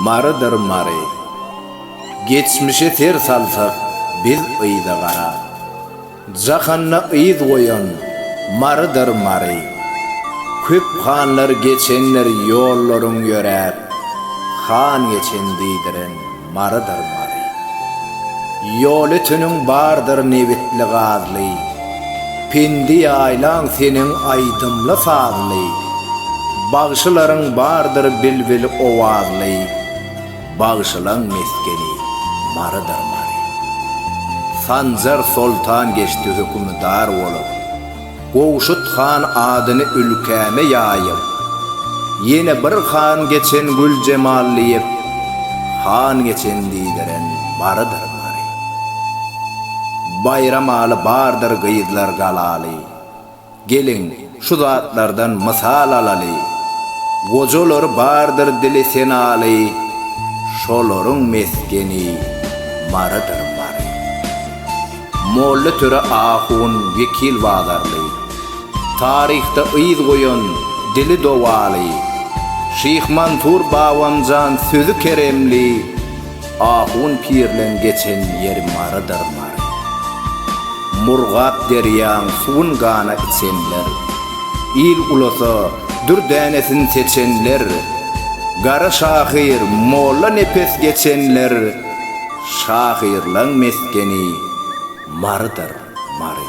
Marydyr Mary. Geçmişe ser salsak biz yza garap. Jahanda yz goýan Marydyr Mary. Köp hanlar geçendir ýollaryň ýöräp. Han geçen diýdiren Marydyr Mary. Ýol öteniň bardyr nebitli-gazly, Pendi ýaýlaň seniň aýdymly-sazly, Bagşylaryň bardyr bilbil owazly, Bagşylaň mesgeni Marydyr Mary. Sanjar soltan geçdi hökümdar bolup, Gowşut han adyny ülkäme ýaýyp, ýene bir han geçen Güljemal diýip, han geçen diýdiren barydyr bary. Baýramaly bardyr gyzlar galaly. Geliň, şu zatlardan mysal alaly. Gojalary bardyr dili senaly, şolaryň mesgeni Marydyr bary. Molla Töre ahun Wekil Bazarly, Taryhda yz goýan dili dowaly, Şyh Mansur Babamjan sözi keremli, Ahun pirleň geçen ýeri Marydyr Mary. Murgap derýaň suwun gana içenler, Il ulasa dür dänesin seçenler, Gara şahyr Molla Nepes geçenler, Şahyrlaň mesgeni Marydyr, Mary.